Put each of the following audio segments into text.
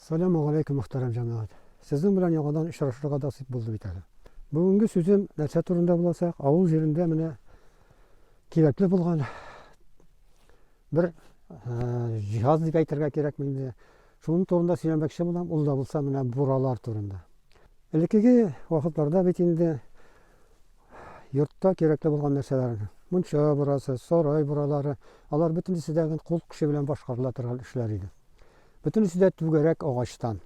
Саляму галәйкүм мөхтәрәм җәмәгать! Сезнең белән яңадан очрашырга насыйп булды бит әле. Бүгенге сүзем нәрсә турында булачак, авыл җирендә менә кирәкле булган бер җиһаз дип әйтергә кирәкме инде, шуның турында сөйләмәкче булам, ул да булса менә буралар турында. Элеккеге вакытларда бит инде йортта кирәкле булган нәрсәләр, мунча бурасы, сарай буралары, алар бөтенесе дә кул көче белән башкарыла торган эшләр иде. Бөтенесе дә түгәрәк агачтан.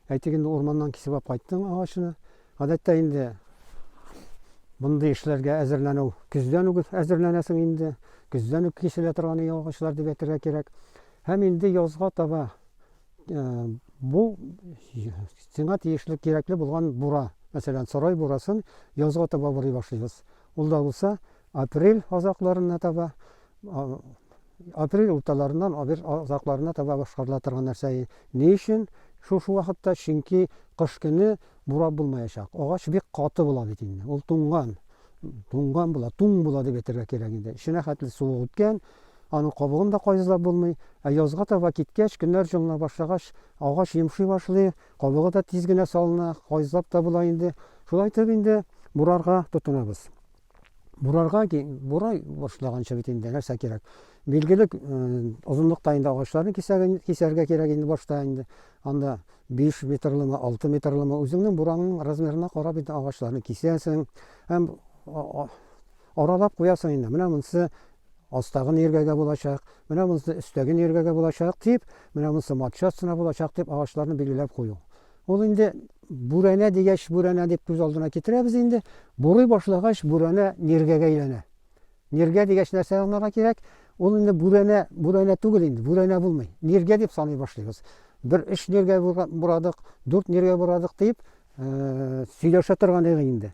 Әйтик, инде урманнан кисеп алып кайттың агачны. Гадәттә инде мондый эшләргә әзерләнү көздән үк әзерләнәсең инде. Көздән үк киселә торган иң агачлар дип әйтергә кирәк. Һәм инде язга таба э, бу сиңа тиешле кирәкле булган бура, мәсәлән, сарай бурасын язга таба бурый башлыйбыз. Ул да булса Апрель азакларына таба, апрель урталарыннан апрель азакларына таба башкарыла торган нәрсә. Ни өчен шушы вакытта? Чөнки кыш көне бурап булмаячак. Агач бик каты була бит инде. Ул туңган. Туңган була, туң була дип әйтергә кирәк инде. Эченә хәтле суык үткән, аның кабыгын да кайзылап булмый. Ә язга таба киткәч, көннәр җылына башлагач, агач йомшый башлый, кабыгы да тиз генә салына, кайзылап та була инде. Шулай итеп инде бурарга тотынабыз. Бурарга кин, бурай башлаганча бит инде нәрсә кирәк? Билгеле озынлыкта инде агачларны кисәргә, кисәргә кирәк инде башта инде. Анда 5 метрлымы, 6 метрлымы үзеңнең бураның размерына карап инде агачларны кисәсең. Һәм аралап куясың инде. Менә монсы астагы нергәгә булачак, менә монсы өстәге нергәгә булачак дип, менә монсы матча астына булачак дип агачларны билгеләп кую. Ул инде бүрәнә дигәч, бүрәнә дип күз алдына китерәбез инде. Бурый башлагач, бүрәнә ниргәгә әйләнә. Ниргә дигәч, нәрсә аңларга кирәк? Ул инде бүрәнә, бүрәнә түгел инде, бүрәнә булмый. Ниргә дип саный башлыйбыз. Бер өч ниргә бурадык, дүрт ниргә бурадык дип, сөйләшә торган идек инде.